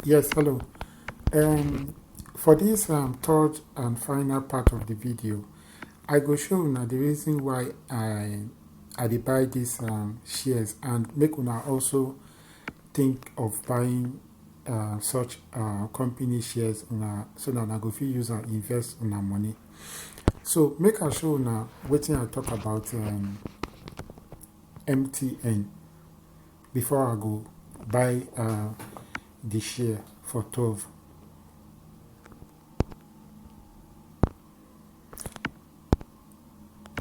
Yes, hello. Um, for this um, third and final part of the video, I go show now the reason why I I dey buy these um, shares and make una also think of buying uh, such uh, company shares una so that una go fit use and invest una money. So make I show una wetin I talk about um, MTN. before i go buy uh, the share for 12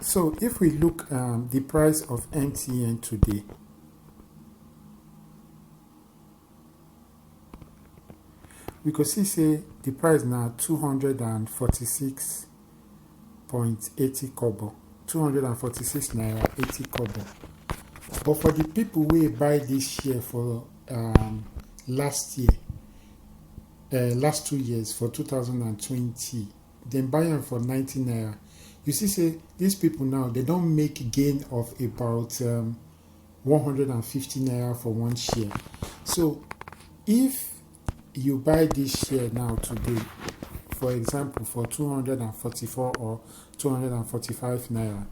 so if we look um, the price of mtn today we could see say the price now 246.80 kobo 246 naira 80 kobo but for the people we buy this share for um, last year uh, last two years for 2020 then buy them for 90 naira you see say these people now they don't make gain of about um, 150 naira for one share so if you buy this share now today for example for 244 or 245 naira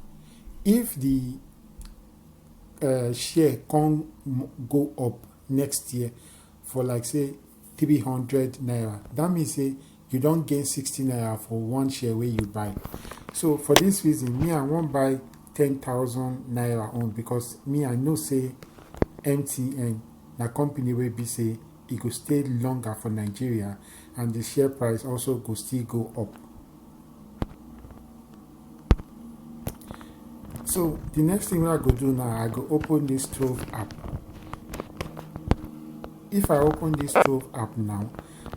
if the uh, share can go up next year for like say three hundred naira that means say you don gain sixty naira for one share wey you buy so for this reason me i wan buy ten thousand naira own because me i know say mtn na company wey be say e go stay longer for nigeria and the share price also go still go up so the next thing wey i go do now i go open this trove app if i open this trove app now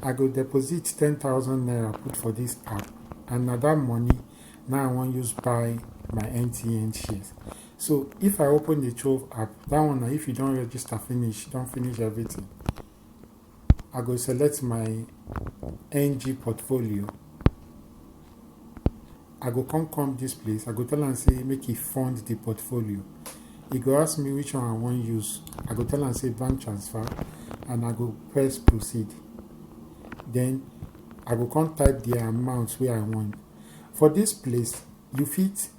i go deposit 10000 naira put for this app and na that money now i wan use buy my mtn shares so if i open the trove app that one na if you don register finish don finish everything I go select my NG portfolio. I go come come this place. I go tell and say make he fund the portfolio. He go ask me which one I want use. I go tell and say bank transfer and I go press proceed. Then I go come type the amount where I want. For this place, you fit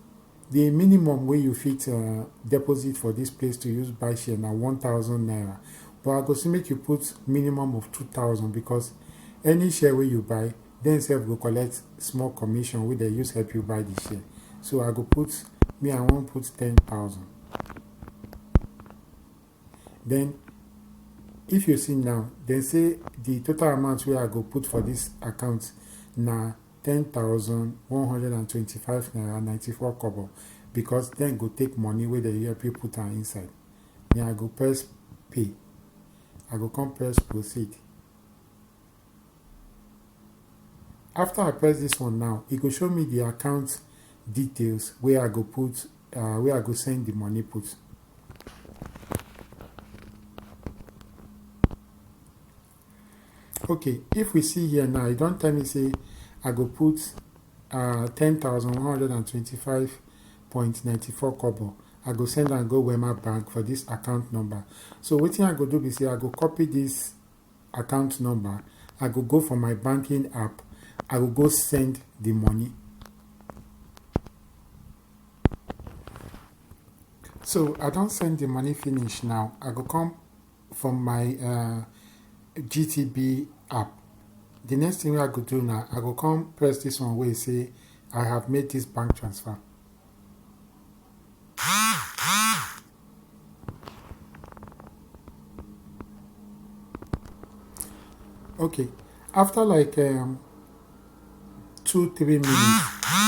The minimum wey you fit uh, deposit for this place to use buy share na 1000 naira. But I go say make you put minimum of 2000 because any share wey you buy, then self go collect small commission wey they use help you buy the share. So I go put, me I won't put 10,000. Then if you see now, then say the total amount where I go put for this account now 10,125 naira 94 kobo because dem go take money wey dem help you put am inside then i go press pay i go come press proceed after i press this one now e go show me the account details wey i go put uh, wey i go send the money put okay if we see here now e don tell me say i go put uh, 10125.94 kobo i go send and go wema bank for this account number so wetin i go do be say i go copy this account number i go go for my banking app i go go send the money so i don't send the money finish now i go come from my uh, gtb app the next thing wey i go do na i go come press this one wey say i have made this bank transfer okay after like um, two three minutes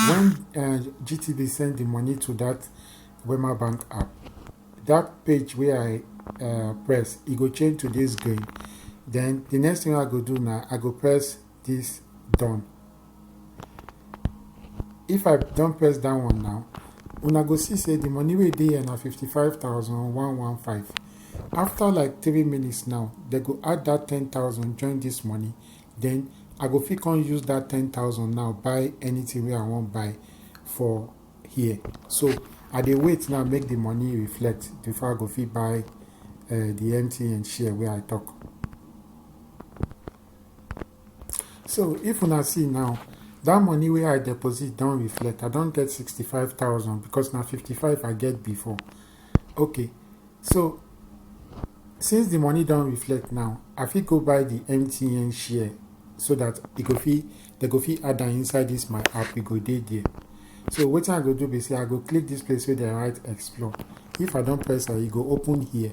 when uh, gtb send the money to that wema bank app that page wey i uh, press e go change to this green then the next thing i go do now i go press this done if i don't press that one now una go see say the money wey dey here na 55115 after like three minutes now they go add that 10000 join this money then i go fit come use that 10000 now buy anything wey i wan buy for here so i dey wait now make the money reflect before i go fit buy uh, the mtn share wey i talk so if una see now that money wey i deposit don reflect i don get 65000 because na 55 i get before okay so since the money don't reflect now i fit go buy the mtn share so that e go fit they go fit add am inside this my app e go dey there so what i go do be say i go click this place where they write explore if i don't press am e go open here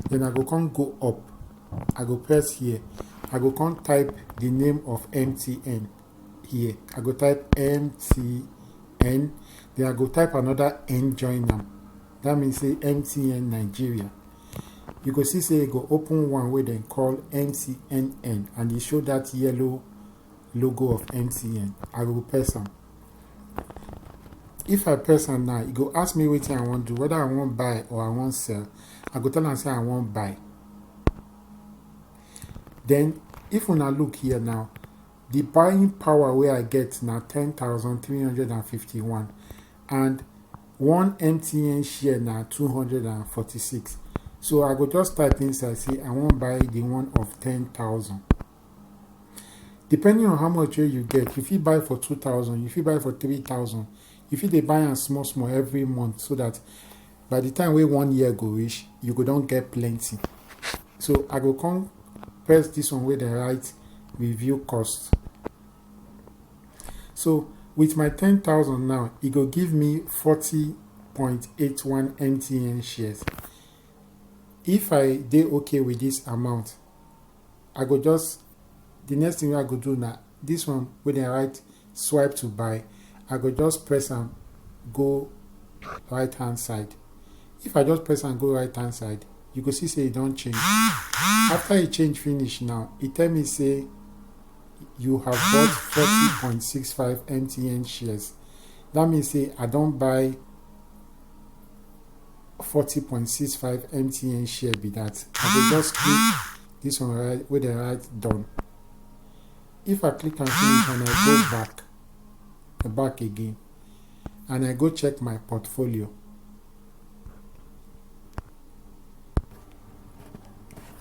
then i go come go up i go press here i go come type the name of mtn here i go type mtn then i go type another n join them. that means say mtn nigeria you go see say e go open one wey dem call mtnn and e show that yellow logo of mtn i go press am if i press am now e go ask me wetin i wan do whether i wan buy or i wan sell i go tell am say i wan buy then if una look here now Di buying power wey I get na ten thousand three hundred and fifty one and one MTN share na two hundred and forty six so I go just type inside say I wan buy di one of ten thousand. Depending on how much wey you get, you fit buy for two thousand, you fit buy for three thousand, you fit dey buy am small small every month so dat by the time wey one year go reach you go don get plenty so i go come press this one wey dem write review cost so with my 10000 now e go give me 40.81 mtn shares if i dey okay with this amount i go just the next thing wey i go do na this one wey dem write swipe to buy i go just press am go right hand side if i just press am go right hand side you go see say e don change after e change finish now e tell me say you have bought forty point six five mtn shares that means say i don buy forty point six five mtn share be that i go just click this one right wey dem write done if i click am finish and i go back back again and i go check my portfolio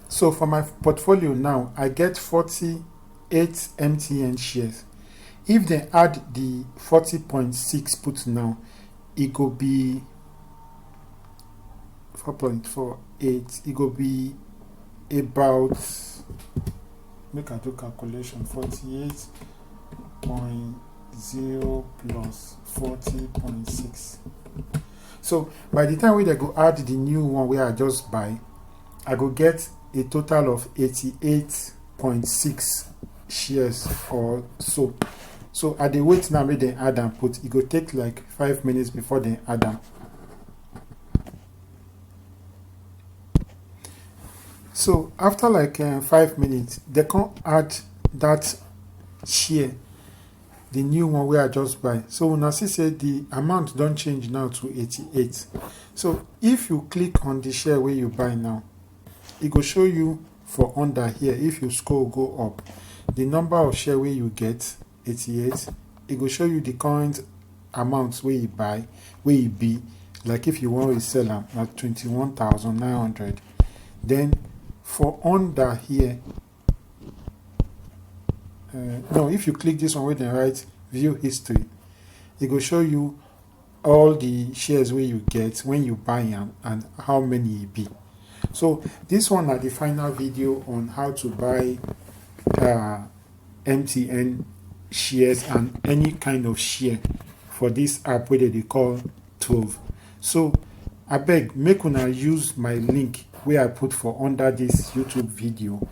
so for my portfolio now i get 48 mtn shares if dem add the 40.6 put now e go be four point four eight e go be about make i do calculation forty eight point zero plus forty point six so by the time wey dem go add the new one wey i just buy i go get a total of eighty eight point six shares or so so i dey wait now make dem add am put e go take like five minutes before dem add am so after like uh, five minutes they can add that share the new one where i just buy so when i see say the amount don't change now to 88 so if you click on the share where you buy now it will show you for under here if you scroll go up the number of share where you get 88 e go show you the current amount wey e buy wey e be like if you wan resell am na 21900 then for under here uh, no if you click this one wey dem write view history e go show you all the shares wey you get when you buy am and how many e be so this one na the final video on how to buy uh, mtn shares and any kind of share for this app wey they call Tove so I beg make una use my link where i put for under this youtube video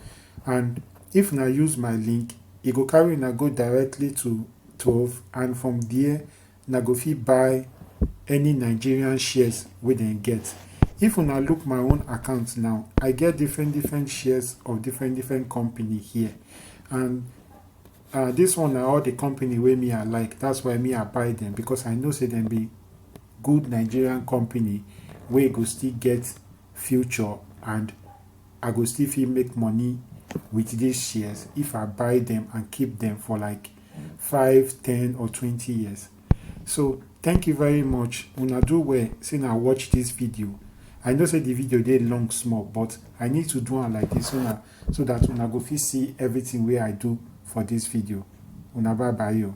and if una use my link it go carry una go directly to Tove and from there una go fit buy any nigerian shares wey dem get if una look my own account now i get different different shares of different different company here and uh, this one na all the company wey me i like that's why me i buy them because i know say them be good nigerian company wey go still get future and i go still fit make money with these shares if i buy them and keep them for like five ten or twenty years so thank you very much una do well say na watch this video i know say the video dey long small but i need to do am like this una so that una go fit see everything wey i do for this video una bye bye o.